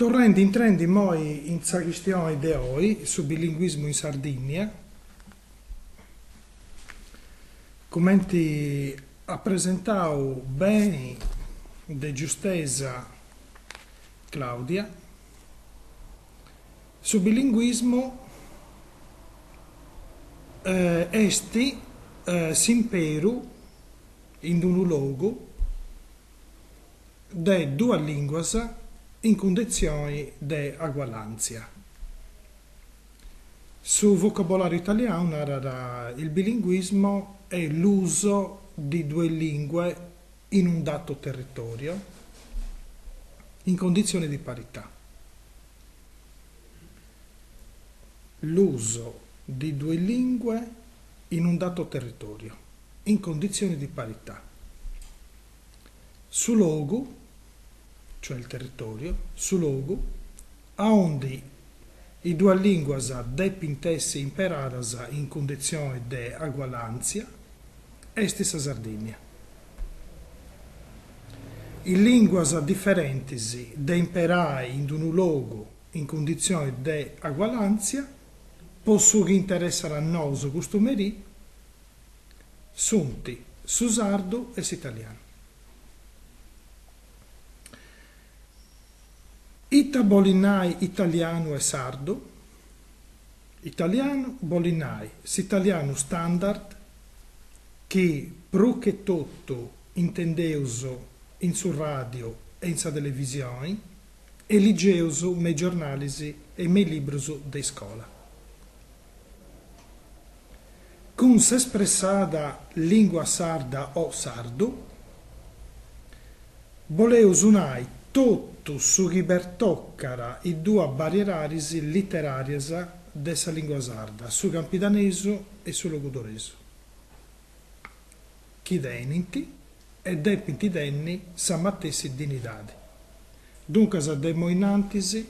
Torrendi, intrendi immoi in sa chistioni de oi, su bilinguismu in Sardìnnia, cumenti at presentau beni de giustesa Claudia, Su bilinguismu est s'imperu in d-unu logu de duas lìnguas in cunditzioni de agualàntzia. Su vocabolàriu italianu narat, Il bilinguismo è l'uso di due lingue in un dato territorio in condizioni di parità. L'uso di due lingue in un dato territorio, in condizioni di parità. Su logu, cioè il territorio, su logu, aundi is duas lìnguas depint essi imperadas in cunditzioni de agualàntzia, est sa Sardìnnia. Is lìnguas diferentis de imperai in d-unu logu in cunditzioni de agualàntzia, po su chi interessat a nosu custu merì, sunt su sardu e s'italianu. Ita bolit nai italianu e sardu? Italianu bolit nai s'italianu standard chi prus che totu intendeus in su ràdiu e in sa televisioni e ligeus me is giornalis e me is librus de iscola. Cun s'espressada lìngua sarda o sardu, Boleus nai totu su chi pertocat is duas bariedadis literàrias de sa lìngua sarda, su campidanesu e su logudoresu, chi tenint e depint tenni sa matessi dinidadi. Duncas de imoi in antis,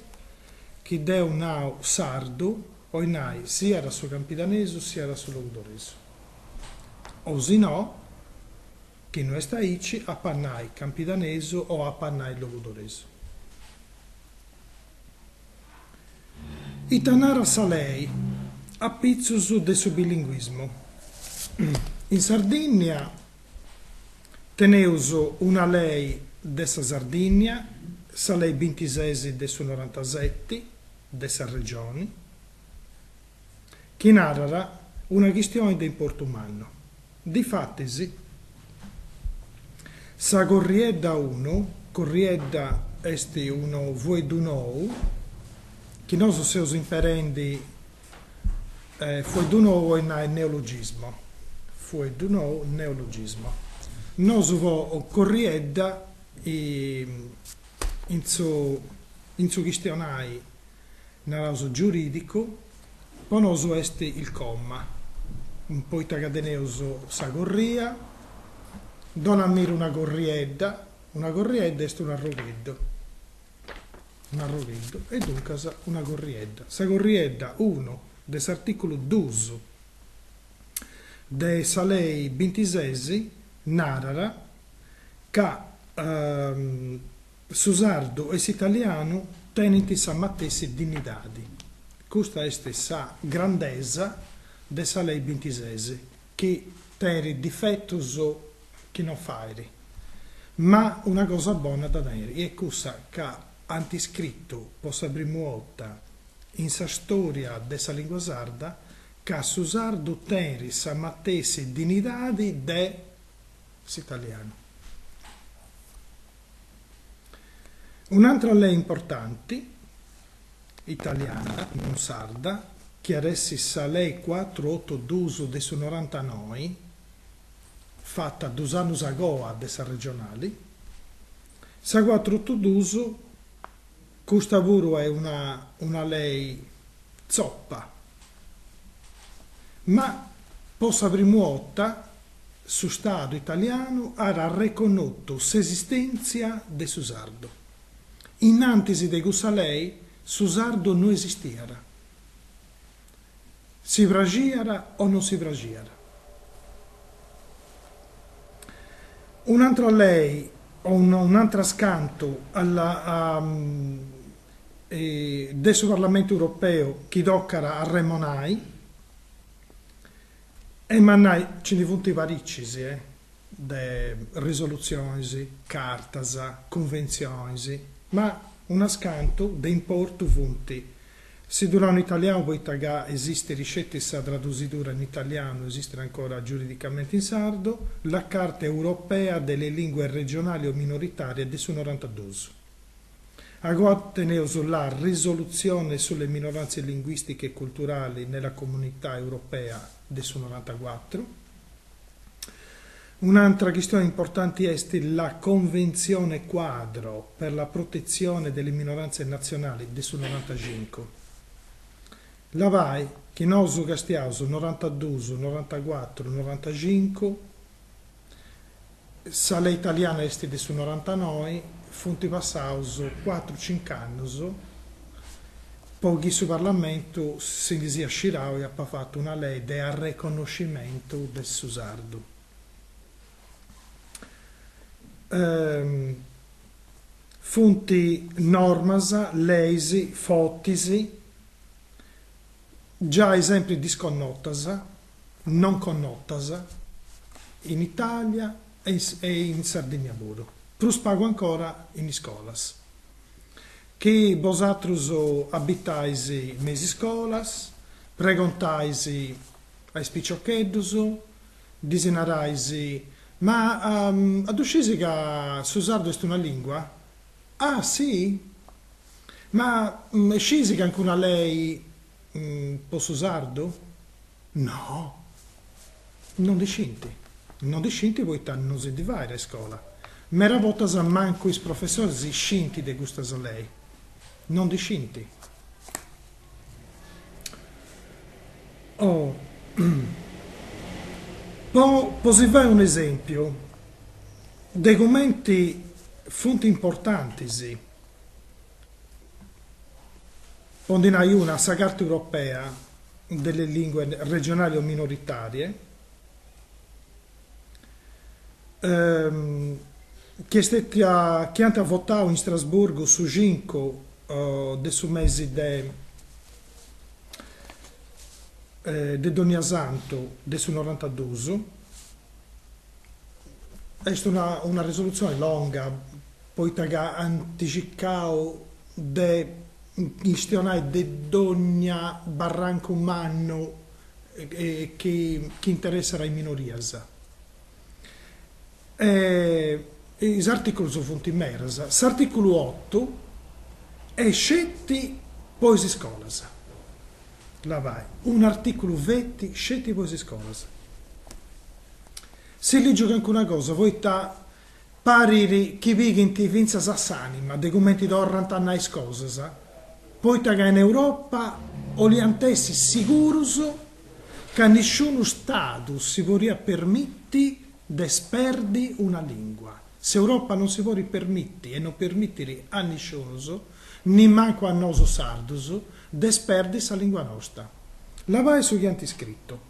chi deu nau sardu, bolit nai siat su campidanesu siat su logudoresu, o si no, Chi no est aici, apo a nai campidanesu o apo a nai logudoresu. Ita narat sa lei apitzus de su bilinguismu? In Sardìnnia teneus una lei de sa Sardìnnia, sa lei bintises de su norantaseti de sa Regioni, chi narat una chistioni de importu mannu. Difatis, sa Corriedda Unu, Corriedda est unu fueddu nou chi nosu seus imperendi, fueddu nou 'oit nai neologismo, fueddu nou neologismo, nosu po Corriedda in su in su chistionai naraus giurìdicu, po nosu est il comma, poita ca teneus sa corria, dona a mira una corriedda, una corriedda est un arrogheddu, un arrogheddu e duncas una corriedda. Sa corriedda unu de s'artìculu duus de sa lei bintises narat ca Su sardu e s'italianu tenint sa matessi dignidadi. Custa est sa grandesa de sa lei bintises, chi tenit difetus chi non fait, ma una cosa bona dda tenit, chi est cussa ca ant iscritu po sa primu 'orta in sa storia de sa lingua sarda ca su sardu tenit sa matessi dignidadi de s'italianu. Un'atra lei importanti, italiana, non sarda, chi at a essi sa lei cuatruotodus de su norantanoi, fata dus annus a goa de sa regionali, sa cuatruotodus, custa puru est una una lei tzopa, ma po sa primu 'orta Su Stadu italianu at arreconnotu s'esistèntzia de su sardu. In antis de cussa lei su sardu no esistiat. Si praxiat o non si praxiat. Un'atra lei o un'atras cantu de su Parlamentu europeu chi tocat a remonai. Emmu, nai nci ndi funt paricis de risolutzionis, cartas, conventzionis, ma unas cantu de importu funt si ddu nau in italianu poita ca esistit sceti sa tradusidura in italianu, esistit ancora giuridicamenti in sardu, la Carta europea delle lingue regionali o minoritarie de su norantadus. Agoa teneus la Risolutzione sulle minoranze linguistiche e culturali nella Comunità Europea de su norantacuatru. Un'antra chistione importanti est la Convenzione Quadro per la protezione delle minoranze nazionali de su norantacincu. Labai chi nosu castiaus norantaduus, norantacuatru, norantacincu. Sa lei italiana est de su norantanoi, funt passaus cuatru, cinc'annus po chi su parlamentu si ndi siat scirau e apat fatu una lei de arreconnoscimentu de su sardu. Funt normas, leis, fortis, giai sempri disconnotas non connotas in Itàlia e in Sardìnnia puru, prus pagu ancora in iscolas. Chi bosatrus abitais me is iscolas, pregontais a is piciocheddus, ddis narais, Ma a ddu scisi ca su sardu est una lìngua? Ah, si? Ma scisi ca nc'est una lei po su sardu? No! No ndi scint. No ndi scint poita no si ndi fait a iscola. Mera bortas mancu is professoris scint de custas leis. No ndi scint. Oh, po po si fai un'esempiu de cumenti funt importantis, po ndi nai una, sa Carta europea delle lingue regionali o minoritarie, chi est stètia, chi ant votau in Strasburgu su cincu de su mesi de de Doniasantu de su norantadus Est una una risoluzione longa poita ca ant circau de chistionai de dogna barrancu mannu chi chi interessat a is minorias. E is articulus funt meras. S'articulu otu est sceti po is iscolas, labai, un'articulu feti sceti po is iscolas. Si lìgiu calincuna cosa poita parit chi pighint fintzas a s'ànima de cumenti torrant a nai is cosas, poita ca in Europa 'oliant essi sigurus ca nisciunu Stadu si potzat permiti de sperdi una lìngua. S'Europa non si podit permiti e non permitit a nisciunus, nimancu a nosu sardus, de sperdi sa lìngua nosta. Labai su chi ant scritu.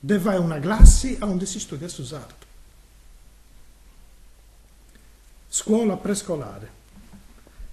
de fai una classi aundi si studiat su sardu. Scuola prescolare.